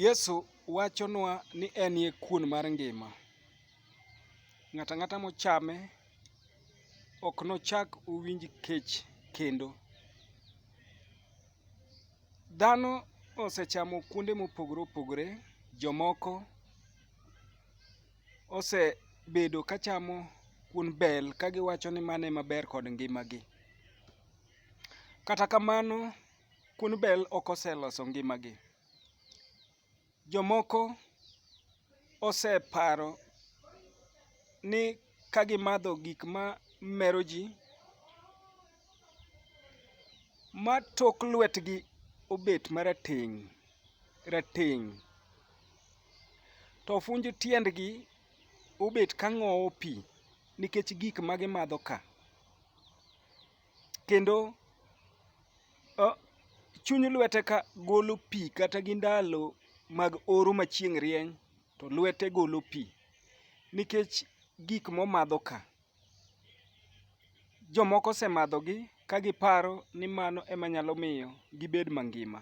Yesu wachonwa ni en e kuon mar ngima. Ng'ato ang'ata mochame ok nochak owinj kech kendo. Dhano osechamo kuonde mopogore opogore, jomoko osebedo ka chamo kuon bel kagiwacho ni mano ema ber kod ngimagi. Kata kamano Kuon bel ok oseloso ngimagi. Jomoko oseparo ni ka gimadho gik ma mero ji, ma tok lwetgi obet marateng' rateng' to ofunj tiendgi obet ka ng'owo pi nikech gik ma gimadho ka. kendo chuny lwete ka golo pi kata gi ndalo mag oro ma chieng' rieny to lwete golo pi nikech gik momadho ka. Jomoko osemadhogi ka giparo ni mano ema nyalo miyo gibed mangima.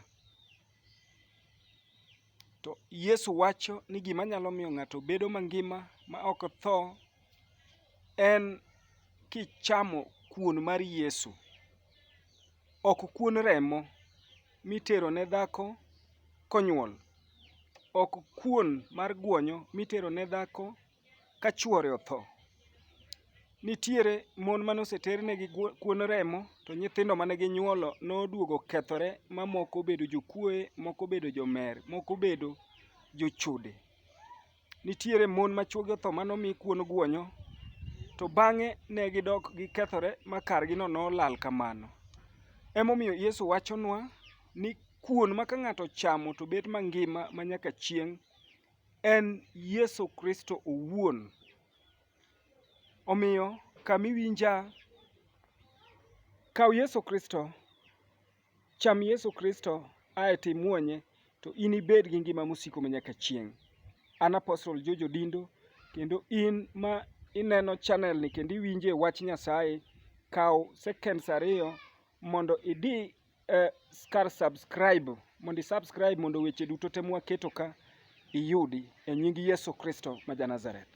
To Yesu wacho ni gima nyalo miyo ng'ato bedo mangima ma ok tho en kichamo kuon mar Yesu. Ok kuon remo mitero ne dhako konyuol, ok kuon mar guonyo mitero ne dhako. ka chwore otho. Nitiere mon mane oseter negi kuon remo to nyithindo mane ginyuolo noduogo okethore ma moko obedo jokuoye, moko obedo jomer, moko obedo jochode. Nitiere mon ma chwogi otho mane omi kuon guonyo to bang'e ne gidok gikethore ma kargino nolal kamano. Emomiyo Yesu wachonwa ni kuon ma ka ng'ato ochamo to bet mangima ma nyaka chieng' en Yesu Kristo owuon. Omiyo kamiwinja, kaw Yesu Kristo, cham Yesu Kristo, ae to imuonye, to inibed gi ngima mosiko manyaka chieng'. An Apostle George Odindo, kendo in ma ineno channel ni kendo iwinje wach Nyasaye, kaw seconds ariyo mondo idi uh, kar subscribe mondo isubscribe mondo weche duto te mwaketo ka iyudi e nying Yesu Kristo ma Janazareth.